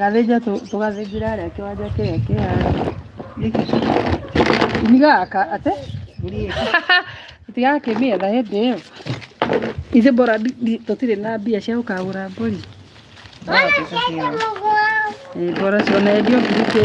Gathĩnja tũ- tũgathĩnjĩra arĩa kĩwanja kĩrĩa kĩhana gĩkĩ ni gaka ate tigakĩmĩetha hĩndĩ ĩyo ithe mbora ndi- ndi- tũtirĩ na mbia cia gũkagũra mbũri Ĩ, mbora cionendio ngirikĩtie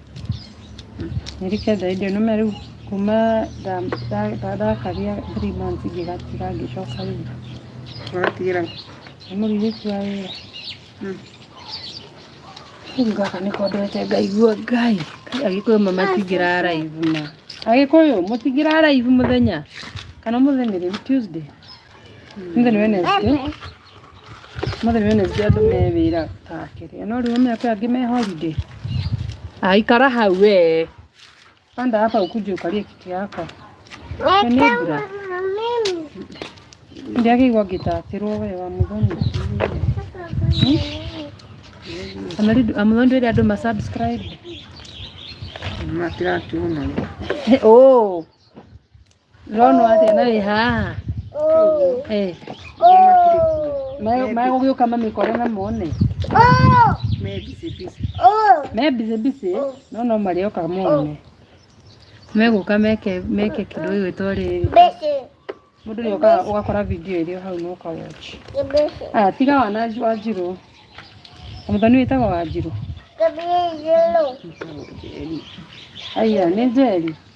Nĩrĩke thendio nĩme rĩu kuma ndakaria three months ngĩgatiga ngĩcoka rĩngĩ. Ũratigĩra kũ? Nĩ mũrigĩti wa wĩra. Rĩu gaka nĩko ndwete ngaigua Ngai. Agĩkũyũ ma matingĩraraivu ma. Agĩkũyũ mũtingĩraraivu mũthenya kana ũmũthĩ nĩ rĩu Tuesday. Ũmũthĩ nĩ Wednesday. Ũmũthĩ nĩ nyonete andũ me wĩra take rĩo, no rĩu ũmenya kwĩ angĩ me holiday? Aa ikara hau wee. Panda hapa ukuje ukalie kiti yako. Nĩ mbura. Ndiagĩrĩirwo ngĩtatĩrwo wee wa mũthoni. Amũthoni ndwĩre andũ ma subscribe. Matiratuona. Oh. Ndĩrona ũyũ athĩna wĩ haha. Eh, me- Megũgĩũka mamĩkore na mone. Me busy busy. Me busy busy, no no marĩoka mone. Megũka meke meke kĩndũ gĩgwĩtwo rĩrĩ. Mũndũ nĩ okaga ũgakora video ĩrĩ o hau na ũka watch. Ah, tiga wana wanjirũ. Mũthoni wĩtagwo wanjirũ. Aya, nĩ njeri.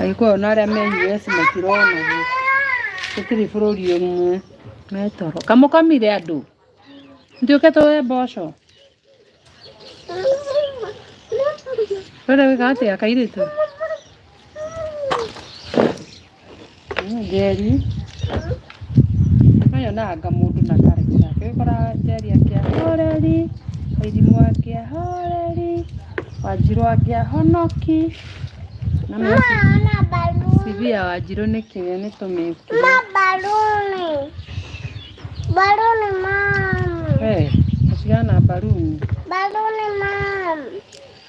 Agĩkũyũ na arĩa me US matirona gĩ. Tũtirĩ bũrũri ũmwe. Me toro. Kamũkomire andũ. Njuke tũwe mboco. Rũrĩa wĩka atĩa kairĩtu? Niĩ njeri, nĩ yonaga mũndũ na character yake. Rĩu ũgakora njeri akĩa horeri, wairimũ akĩa horeri, wanjirũ akĩa honoki. Severe wanjirũ nĩ kĩĩ nĩ tũmĩkuru. Wee, ũcihana mbaruni.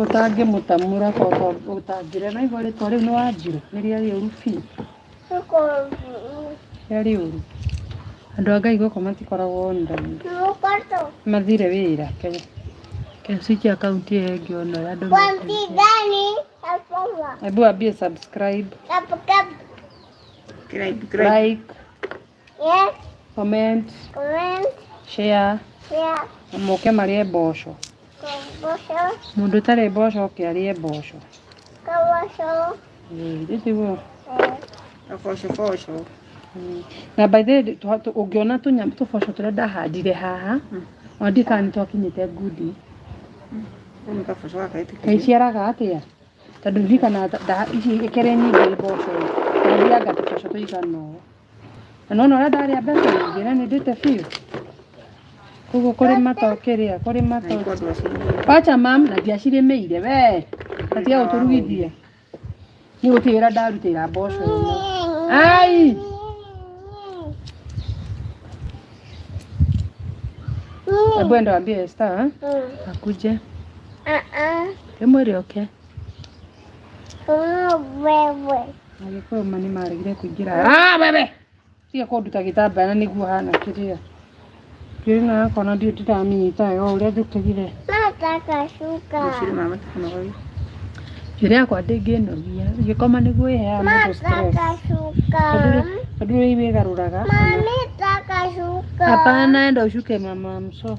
Ũtangĩmũtamura baba ũtangĩrĩa naigua rĩtwa rĩu nĩwanjirũ nĩrĩarĩ ũru biũ. Yarĩ ũru. Andũ a Ngai gũkũ matikoragwo online. Mathire wĩra. Kenya. Kĩmsiki akaunti ĩyo ĩngĩ ona ya andũ. Hebu ambie subscribe. Like. Yes. Comment. Comment. Share. Share. Na mũke marĩe mboco. Mboco. Mũndũ ũtarĩ mboco oke arĩe mboco. Mboco. Ĩĩ, rĩu tiguo. Mboco mboco. Na by the way, twa- tũ- ũngĩona tũnyamũ tũboco tũrĩa ndahandire haha, ona ndiũĩ kana nĩ twakinyĩte ngundi. Kau nĩ kaboco gaka ĩtĩkĩrie. Kaiciaraga atĩa? Tondũ hihi kana nda- ici ikĩrĩ nyingĩ mboco, ndathianga tũboco tũigana ũũ. Na nona ũrĩa ndarĩa mbeca nyingĩ na nĩ ndĩte biũ. Koguo kũrĩma to kĩrĩa, kũrĩma to. Wacha mam na ndiacirĩmĩire we. Atiga gũtũrugithia. Nĩ gũtigĩra ndarutĩra mboco ĩno. Ai! Hebu enda waambie Esther akuje. Hebu mwĩre oke. Wewe. Agĩkũyũ ma nĩ maregire kũingĩra. Ah, wewe! Tiga kũnduta gĩtambaya na nĩguo hana kĩrĩa. Kĩrĩ na yako na ndirĩ ndĩramĩnyita wega ũrĩa njũkĩrire. Nataka shuka. Gũcirĩ mama tũkanogoria. Njĩra yakwa ndĩngĩnogia. Gĩkoma nĩguo ĩheaga mũndũ stress. Nataka shuka. Tondũ rĩ- tondũ rĩu wĩgarũraga. Mami, nataka shuka. Hapana, enda ushuke mama, I'm so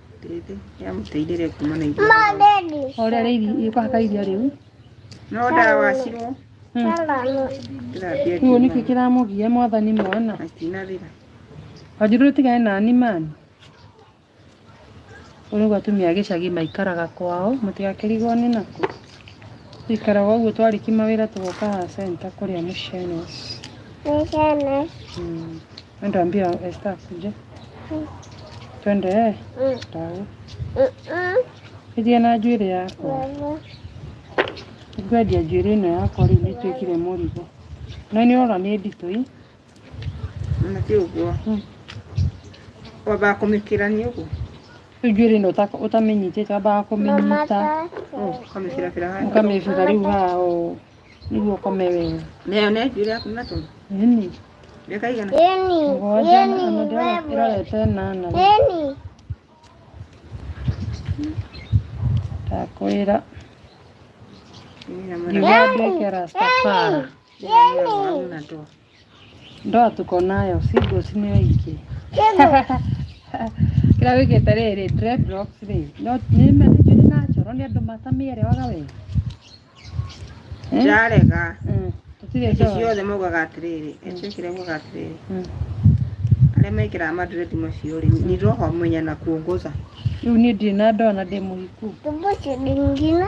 yamũteithĩrĩria kuma na iria o rĩrĩa rĩiri kũhaka iria rĩu no ndawacirwo ndĩrambia rĩu nĩkĩ kĩramũgia mwathani mwana atinarĩra wanjirũ tigane na animani ũrĩu atumia a gĩcagi maikaraga kwao mũtigakĩrigwo nĩ nakũ ikaraga ũguo twarĩki mawĩra tũgoka haha centa kũrĩa mũcene Mm. Nitaambia Esther akuje. Twende eh, Mm, tawe. mm, mm. Ithie na njuĩrĩ yakwa. Mama. Ngwendia njuĩrĩ ĩno yakwa rĩu nĩtuĩkire mũrigo. Na nĩ ora nĩ nditũ ii. na ti ũguo Mm. wambaga kũmĩkĩrania ũguo Rĩu njuĩrĩ ĩno ũta- ũtamenyitĩte wambaga Mama kũmĩnyita. tata. ũkamĩbirabira handũ ũkamĩbutha rĩu hao nĩguo ũkome wega nayo nĩ njũrĩ yaku na tũndu ĩni mĩaka igana mũgwanja na ndĩrona ĩrorete nana ndakwĩra Nginya mwana ngiuga nduĩke rastafara. waku na tũndu Ndoa tuko nayo, si boss nĩ aingĩ. Kĩrĩa wĩkĩte rĩrĩ, dreadlocks rĩ, no nĩ ma- nĩ njuĩrĩ natural, nĩ andũ matamĩerewaga wega. Eh? Ndarega. Mm, Tũtirĩ Ici ndoa. ciothe maugaga atĩrĩrĩ, acio kĩrĩa maugaga atĩrĩrĩ, Mm. arĩa mekĩraga madredi macio rĩ, ni roho mwenye na kuongoza. Rĩu niĩ ndirĩ na ndoa na ndĩ mũhiku. Tubucu ndingine.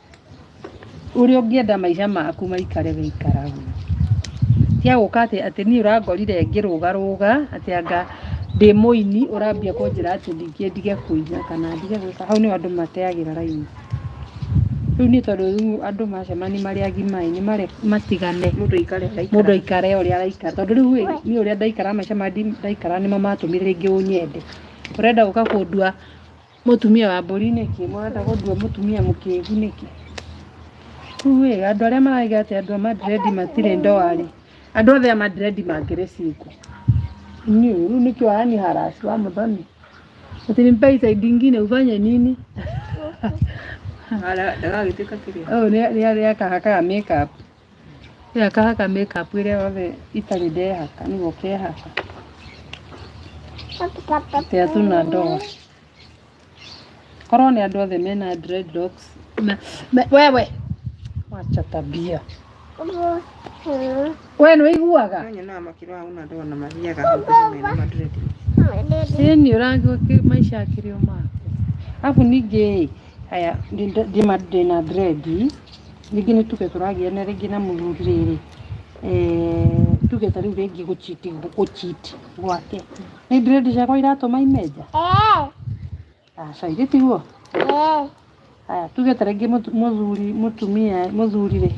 Ũrĩa ũngĩenda maica maku maikare ũikaraga. Cia gũka atĩ atĩ niĩ ũrangorire ngĩrũgarũga atĩ anga ndĩ mũini ũrambia kũnjĩra atĩ ningĩ ndige kũina kana ndige gwĩka. Hau nĩho andũ mateagĩra raini. Rĩu niĩ tondũ rĩu andũ macemania marĩ agima ĩ, nĩ mareka matigane Mũndũ aikare ũrĩa aikaraga. mũndũ aikare ũrĩa araikara. Tondũ rĩu ĩ, niĩ ũrĩa ndaikaraga maica marĩa ndaikaraga nĩmo matũmire rĩngĩ ũnyende. Ũrenda gũka kũndua Mũtumia wa mbũri nĩkĩ? Mũrenda gũthua mũtumia mũkĩgu nĩkĩ? Rĩu ĩ, andũ arĩa maraiga atĩ andũ a Madrid matirĩ ndoa-rĩ, andũ othe a Madrid mangĩrĩ single. Nyi, rĩu nĩkĩ wayani harass wa mũthoni? Ati ni mbai side ingine ufanye nini? Ndagagĩtuĩka kĩrĩa. Ũyũ nĩ akahakaga makeup. Rĩu akahaka make up ĩrĩa yothe itarĩ ndehaka nĩguo kehaka tĩa tũna ndoa korwo nĩ andũ othe mena dreadlocks me- me- wewe wacha tabia we nĩ ũiguaga Nonyonaga makĩrwa hau na ndoa na mathiaga hau tene mena madredi. Sini ũragwo maisha akĩrĩ o mako. Alafu ningĩ haya ndĩ- ndĩ- ndĩma- ndĩna drendi Rĩngĩ nĩ tuge tũragiana rĩngĩ na mũthuri rĩrĩ, tuge ta rĩu rĩngĩ gũchiti gũchiti gwake. Nĩ ndĩrendi ciakwa iratũma ime nja? Aca irĩ tiguo? Haya, tuge ta rĩngĩ mũthuri mũtumia mũthuri rĩ,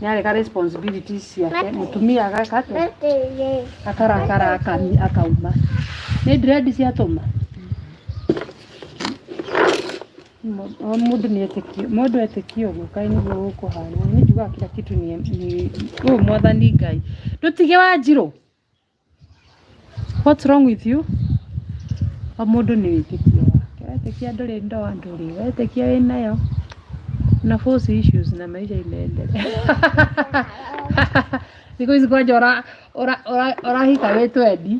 nĩ areka responsibilities ciake, mũtumia ageka atĩa? Akarakara akauma. Nĩ ndĩrendi ciatũma? O mũndũ nĩ etĩkia, mũndũ etĩkia ũguo kaĩ nĩguo gũkũhana. Mimi njugaga kila kitu ni, ni oh, mwathani Ngai. Ndutige Wanjirũ. What's wrong with you? O mũndũ nĩ wĩtĩkia wake. Wetĩkia ndũrĩ ndoa ndũrĩ, wetĩkia wĩ nayo. Na force issues na maisha inaendelea. Siku hizi kwanja ora ora ora orahika we twendi.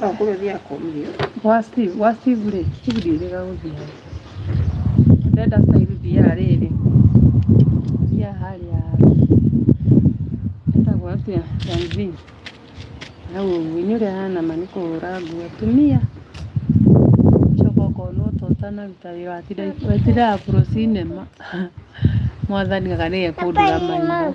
No kũrĩ ũthiĩ akomire. Gwa Steve, gwa Steve rĩ, Steve ndiĩrĩga gũthiĩ. Ndenda style thiaga rĩrĩ. Thiaga harĩa. Etagwo atĩa? Yanzi. Hau ũguo, nĩ ũrĩa hana ma nĩ kũhũra nguo atumia. Coka ũkona ũta ũtanaruta wĩra watinda watindaga pro cinema. Mwathani anga nĩwe ekũndũra maitho.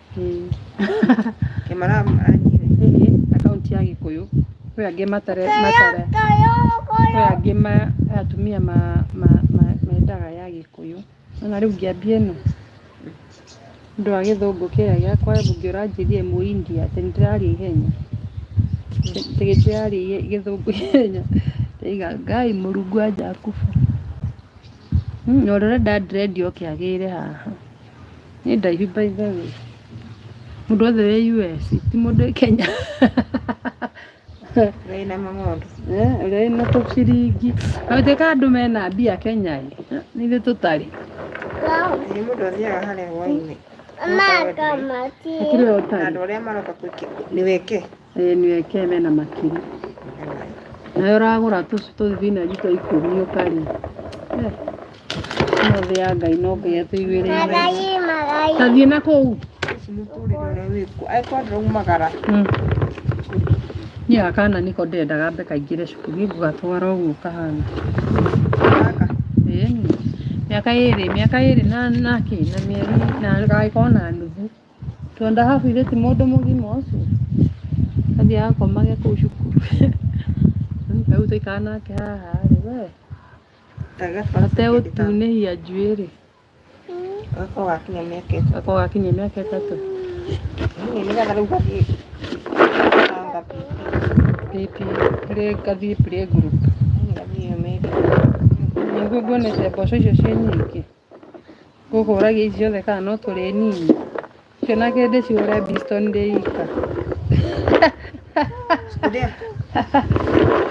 Mm. Kĩmara anyire. Hihi akaunti ya gĩkũyũ kwĩ angĩ matare matare kwĩ angĩ ma atumia ma ma ma mendaga ya gĩkũyũ ona rĩu ngĩambia ĩno ũndũ wa gĩthũngũ kĩrĩa gĩakwa mbunge ũranjĩrie mũ India atĩ nĩndĩraria ihenya atĩ nĩndĩraria ihe- gĩthũngũ ihenya ndaiga ngai mũrungu wa Jakubu Mm, Ũrĩa ũrenda dread oke agĩre haha. Nĩ ndaihu by the way. Mũndũ wothe wĩ US, ti mũndũ wĩ Kenya. Wĩna mang'ondu. Eh, Ũrĩa wĩna tũciringi. Na gũtuĩka andũ mena mbia Kenya ĩ, nĩ ithuĩ tũtarĩ. Nĩ mũndũ athiaga harĩa hwainĩ. Hakĩrĩ o Na tari. andũ arĩa maroka kwĩke nĩ weke. Ĩĩ nĩ eke mena makiri. Nawe ũragũra tũcu tũthibinanji twa ikũmi ũkarĩ. Eh, Ĩno thĩ ya Ngai no Ngai atũiguĩrĩire. Tathiĩ na kũu. Mm. Niĩ gaka kana niko ndendaga mbe kaingĩre cukuru ngũgatwara ũguo kahana. Ĩĩni. Mĩaka ĩrĩ, mĩaka ĩrĩ na na kĩ, na mĩeri, na gagĩkorwo na nuthu. Twenda habu ithe ti mũndũ mũgima ũcio athiaga akomage kũu cukuru rĩu tũikara nake haha rĩ we ategũtunĩhia njuĩ rĩ gakorwo gakinya mĩaka ĩtatũ gakorwo gakinya mĩaka ĩtatũ nĩgetha rĩu gathiĩ gathiĩ play group nĩguo nguonete mboco icio ciĩ nyingĩ Gũkũ ũragia ici ciothe kana no tũrĩ nini? Icio na kĩndĩ cihũre mbisto ndĩ ika.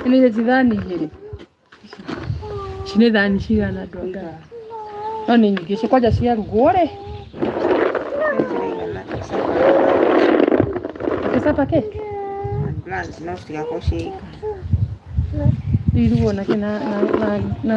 Nĩ ici thani igĩrĩ? Ici nĩ thani cigana andũ a Ngai? No nĩ nyingĩ ici kwanja ciarugwo rĩ? Gĩcaba kĩ? Irugwo na kĩ na na na na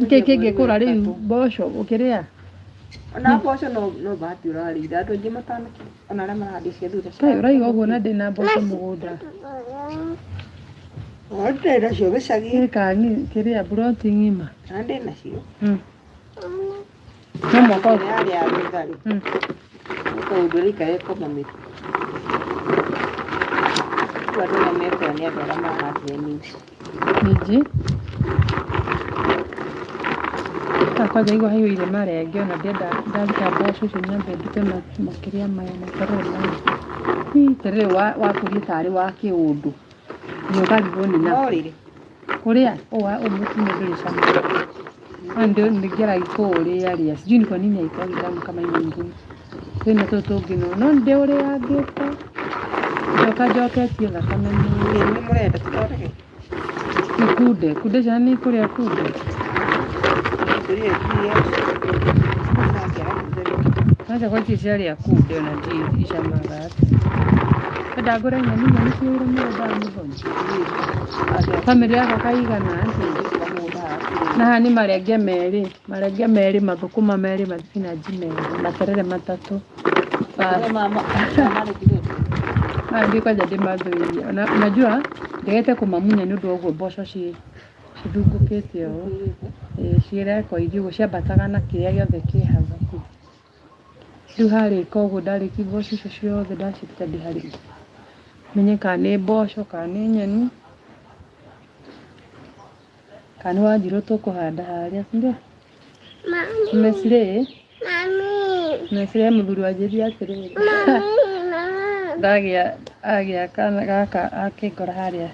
nĩkĩ kĩngĩkũra rĩu mboco ũkĩrĩa ona mboco no no bahati ũrarĩire andũ aingĩ matana ona arĩa marahandire cia thutha kaĩ ũraiga ũguo na ndĩna mboco mũgũnda ndĩrĩ nacio gĩcagi nĩkangi kĩrĩa mburoti ng'ima na ndĩrĩ nacio No mwaka ũyũ. Yarĩ ya thutha-rĩ, Mm. mũkaundũ rĩika ekonomĩte. Rĩu andũ arĩa mekũa nĩ andũ arĩa mahandire minji. Minji. Ta kwanza igua haihũire marenge ona ndenda ndaruta mboco icio nyambe ndute ma- makĩria maya na terere maya. Hii, terere wa- wakũrie tarĩ wa kĩũndũ. Nĩ ũkarigwo nĩ No nakĩ. rĩrĩ, Kũrĩa ũwa umuti nĩ ndũrĩ cama. Ona ndio ningera ikũũrĩa rĩa. Sijui ni kwa nini haikuwa vitamu kama hii nyingine. Kwĩna tũ tũngĩ no. No ndio ũrĩa ngĩte. Njoka njoketie thakame nĩ Nĩ mũrenda tũthondeke? ikunde. Kunde ciana nĩ ikũrĩa kunde. Tũrĩe iria. Acha kwa ici ciarĩa kunde ona ndio icamaga. Kwenda ngũre nyeni nyeni ciĩ wĩra mũgũnda wa mũthoni. Famĩlĩ yako kaigana na haha nĩ marenge merĩ marenge merĩ mathũkũma merĩ mathibinanji merĩ na terere matatũ Basi. Maya nĩ kwanja ndĩmathũire na unajua ndĩrĩte kũmamunya nĩ ũndũ wa ũguo mboco ci cithungũkĩte ũũ Ĩĩ, ciĩ rekoindi ũguo ciambataga na kĩrĩa gĩothe kĩ hau. Rĩu harĩka ũguo ndarĩkia mboco icio ciothe ndaciruta ndĩharĩrie menye kana nĩ mboco kana nĩ nyeni kana nĩ wanjirũ tũkũhanda harĩa sindio mesire mesire mũthuri wanjĩria atĩrĩ ndagĩa agĩa kana gaka akĩngora harĩa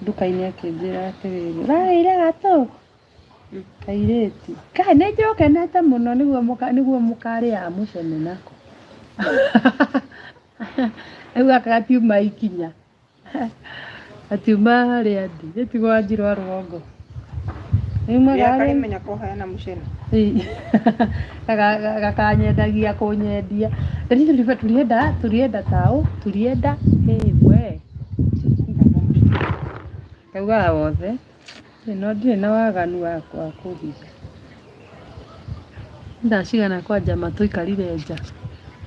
nduka-inĩ akĩnjĩra atĩrĩrĩ ũrarĩire gatũ Kairĩtu. Kaĩ nĩ njũkenete mũno nĩguo mũka nĩguo mũkarĩaga mũcene nako. Rĩu gaka gatiuma ikinya. Gatiuma harĩa ndĩ. Nĩ ti gwa njirwa rwongo. Rĩu Rĩa magarĩ. karimenya koheana mũcene. gakanyendagia kũnyendia Rĩu tũriba- tũrienda tũrienda taũ tũrienda ĩĩ we Augaga wothe, Niĩ no ndirĩ na waganu wa kũhinga. Nĩ thaa cigana kwanja ma tũikarire nja?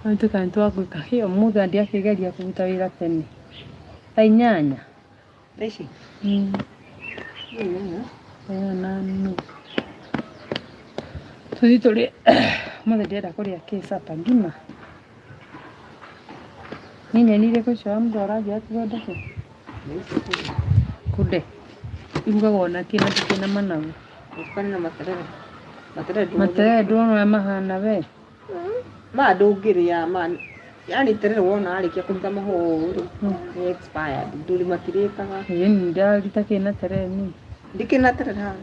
No nĩ tũikare nĩ twakũinũka. Hĩ ũmũthĩ andia akĩgeria kũruta wĩra tene. Thaa inyanya? Thaa ici? Ĩĩ. Thaa inyanya? Thaa inyanya na nuthu. Tũthiĩ tũrĩe, ũmũthĩ ndĩrenda kũrĩa kĩ supper? Ngima? Nĩ nyeni irĩkũ icio mũndũ aranjia athondeke? Kunde. Irugagwo na kĩ na kĩ na managu. Ũtukane na materere. Materere ndũmũ. Materere ndũrona ũrĩa mahana we. Ma ndũngĩrĩa ma yani terere wona arĩkia kũruta mahũa ũũ rĩ nĩ expired ndũrĩ matirĩkaga. Ĩĩ nĩ ndarita kĩ na terere niĩ. Ndikĩna terere haha.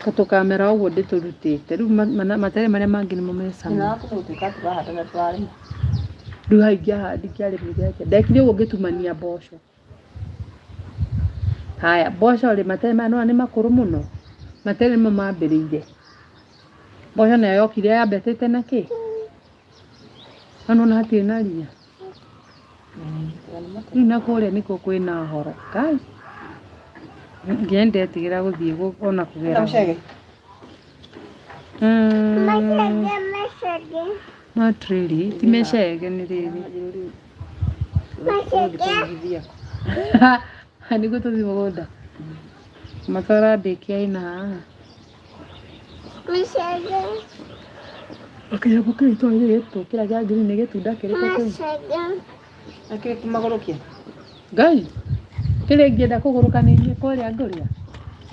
Ta tũkamera ũguo ndĩtũrutĩte. Rĩu ma- mana- matere marĩa mangĩ nĩmo me cama. Nyina waku mũtuĩka tũrahanda na tũrarĩma. Rĩu haha ingĩahandi ingĩarĩmire atĩa? Ndekire ũguo ngĩtumania mboco. Haya, mboco rĩ, matere maya nĩwona nĩ makũrũ mũno. Matere nĩmo mambĩrĩire. Mboco nayo yokire yambĩtĩte na kĩ? Na nona hatirĩ na ria. Rĩu na kũrĩa nĩkuo kwĩna horo. Kai. Nginya ndetigĩra gũthiĩ gũ- ona kũgera. Mũcege. Mm, Not really. Ti mecege nĩ rĩrĩ. Nĩguo tũthiĩ mũgũnda. Matara ndĩkia ina. Mũcege. Akĩra ko kĩu to ire to kira ja ngiri ne getu da kire ko kĩu. Mũcege. Akĩra kumagoro kia. Ngai. Kire ngĩenda kũgũrũka nĩ inyuĩ kũrĩa ngũrĩa.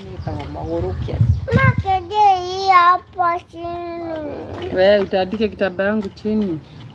Nĩ tawa magũrũ kia. Mũcege hii hapa chini. Wewe utaandike kitambaa yangu chini.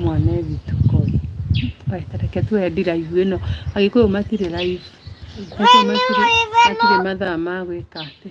Mwana e witũ koi. Kaĩ ta reke tuoe ndiraihu ĩno. Agĩkũyũ matirĩ raihu. Agĩkũyũ matirĩ matirĩ mathaa ma gwĩka atĩ.